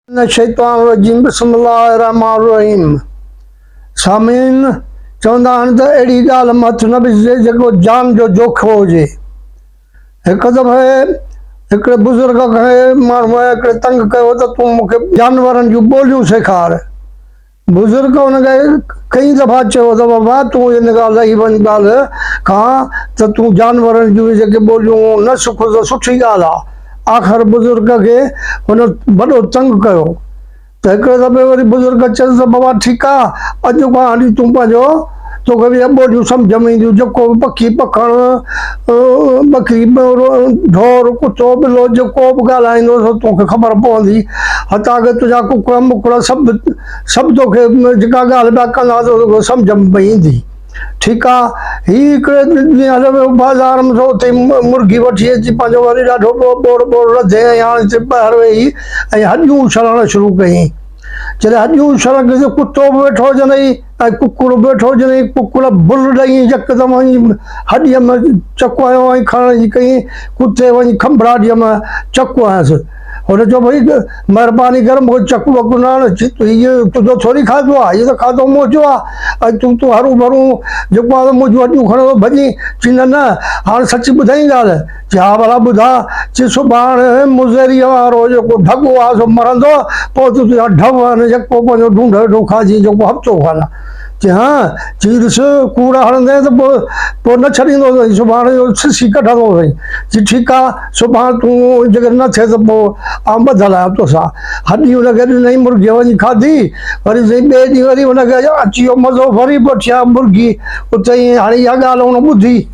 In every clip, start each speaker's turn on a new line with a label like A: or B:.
A: من الشيطان الرجيم بسم الله الرحمٰن الرحيم سامعين چوندا آهن ته اهڙي ڳالهه مان هٿ نه وجهجي جيڪو جان جو جوکو هجي هڪ دفعي هڪڙي بزرگ کي ماڻهوء هڪڙي تنگ ڪيو ته تون مون کي جانورن جون ٻوليون سيکار بزرگ ان کي ڪئين دفعا چيو ته بابا تون ان کان لهي وڃ ڳالهه کان ته تون جانورن جون جيڪي ٻوليون نه سکو ته سٺي ڳالهه آهي. آخر بزرگ کي هن وڏو تنگ ڪيو ته هڪڙي دفعي وري بزرگ چيس ته بابا ٺيڪ آهي اڄ کان هلي تون پنهنجو تو کي به اهي ٻوليون سمجهه ۾ اينديون، جيڪو به پکي، پکڻ، ٻڪري، ٻيورو، ڍور، ڪتو، ٻلو جيڪو به ڳالهائيندو سو تو کي خبر پوندي. حتيٰ ڪه تنهنجا ڪڪڙ، مڪڙ سڀ سڀ تو کي جيڪا ڳالهه پيا ڪندا تو کي سمجهه ۾ پئي ايندي. ٺيڪ آ. هي هڪڙي ڏينهن هليو ويو بازار ۾ سو اتي مرغي وٺي اچي پنهنجو وري ڏاڍو ٻوڙ ٻوڙ رڌي ۽ هاڻي اتي ٻاهر ويهي ۽ هڏيون اڇلڻ شروع ڪيائين. جڏهن هڏيون اڇلڻ ڪيائين ته ڪتو به ويٺو هجندئي. ۽ ڪڪڙ ويٺو جنھن ڪڪڙ بل ڏئي يڪدم وڃي ھڏيء م چڪ ھنيو ۽ کڻڻ جي ڪيئين ڪتي وڃي کنڀڙاٽيء م چڪ ھنيس ھن چيو ڀئي مھرباني ڪر مون کي چڪ وڪ نه ھڻ ھيء تنھنجو ٿوري کاڌو آ ھيء ته کاڌو منھنجو آ ۽ تون تون ھرون ڀرون جيڪو آ سو منھنجون ھڏيون کڻندو ڀڄين چي نه نه ھاڻ سچي ٻڌائين ڳالھه جا ڀلا ٻڌاء، چي سڀاڻ مضريء وارو جيڪو ڍڳو آ سو مرندو، پوء تون تنهنجا ڍؤ آهن، يڪو پنهنجو ڍونڍ هيٺون کائجين جيڪو هفتو کن چي ها، چي ڏس ڪوڙ هڻندين ته پوء نه ڇڏيندو سئي، سڀاڻ اهو سسي ڪڍندو سئي، چي ٺيڪ آ، سڀاڻ تون جيڪڏهن نه ٿئي ته پوء آئون ٻڌل آهيان توسان. هڏي ان کي ڏنائين مرگيء وڃي کاڌي، وري سائين ٻئي ڏينهن وري ان کي اچي ويو مزو، وري به وٺيائين مرگي، اتي هاڻي اها ڳالهه هن ٻڌي.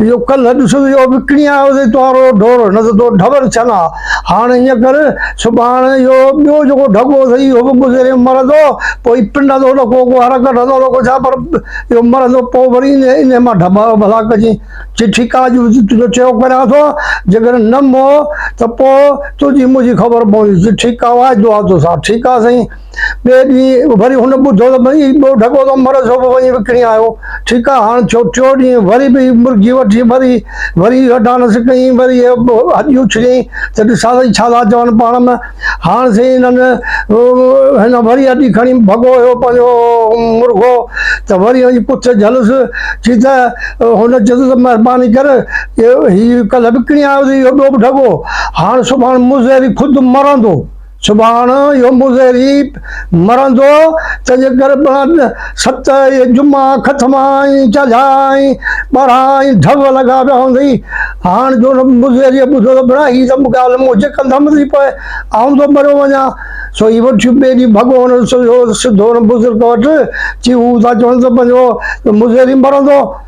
A: اهو ڪلهه ڏسو ته اهو وڪڻي آيو اٿئي تنهارو ڍور، نه ته تو ڍور ڇنان. هاڻ ائين ڪر، سڀاڻ اهو ٻيو جيڪو ڍڳو اٿئي، اهو به گذريم مرندو، پوء ئي پنڊ هندو نه ڪو ڪو حرڪت هندو نه ڪو ڇا، پر اهو مرندو، پوء وري انهيء مان ڍٻا ڀلا ڪجين. چٺي ڪا جو تنهنجو چيو ڪريان ٿو، جيڪڏهن نه مئو ته پوء تنهنجي منهنجي خبر پوندي. چٺي ڪا واعدو آ توسان. ٺيڪ آ سائين. ٻئي ڏينهن وري هن ٻڌو ته ٻئي ٻيو ڍڳو ته مر سوڀو وڃي وڪڻي آيو. ٺيڪ آ، هاڻ ٿيو ٽيون ڏينهن وري ٻئي مرغي وٺي مري وري هڏانس ڪيائين وري هڏي اڇليائين ته ڏسان سائين ڇا ٿا چون پاڻ م هاڻ سائين هنن هن وري هڏي کڻي ڀڳو هيو پنهنجو مرغو ته وري وڃي پڇ جهلس ٿي ته هن چيس ته مهرباني ڪر هي ڪلهه وڪڻي آيو ته اهو ٻيو به ڍڳو هاڻ سڀاڻ مون زهري خود مرندو. سڀاڻ يوم الزريب مرندو، تنهن جي ڪري بڻن ست اهي جمعا، ختما ۽ چاجها ۽ ٻارها ۽ ڍول لڳا پيا هوندئي. هاڻ جو مضريء ٻڌو ته بڻا هي ته ڳالهه مون جي ڪنڌم ٿي پئي، آئون ٿو مريو وڃان. سو هي وٺيو ٻئي ڏينهن ڀڳو هن سوڌو سڌو هن بزرگ وٽ چيو هو ٿا چون ته پنهنجو مضري مرندو.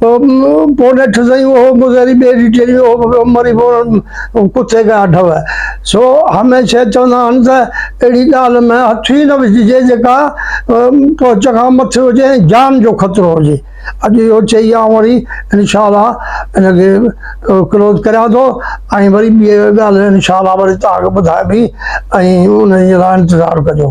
A: پوء نيٺ سائين اهو مظهري ٻئي ڊيٽيل ۾ اهو به مري بوڻ ڪٿي ڪيا اٺئو. سو هميشه چوندا آهن ته اهڙي ڳالهه ۾ هٿ ئي نه وجهجي جيڪا پهچ کان مٿي هجي ۽ جان جو خطرو هجي. اڄ اهو چئي آئون وري انشاء الله ان کي ڪلوز ڪريان ٿو ۽ وري ٻي ڳالهه انشاء الله وري توهان کي ٻڌائبي ۽ انهي جي لاء انتظار ڪجو.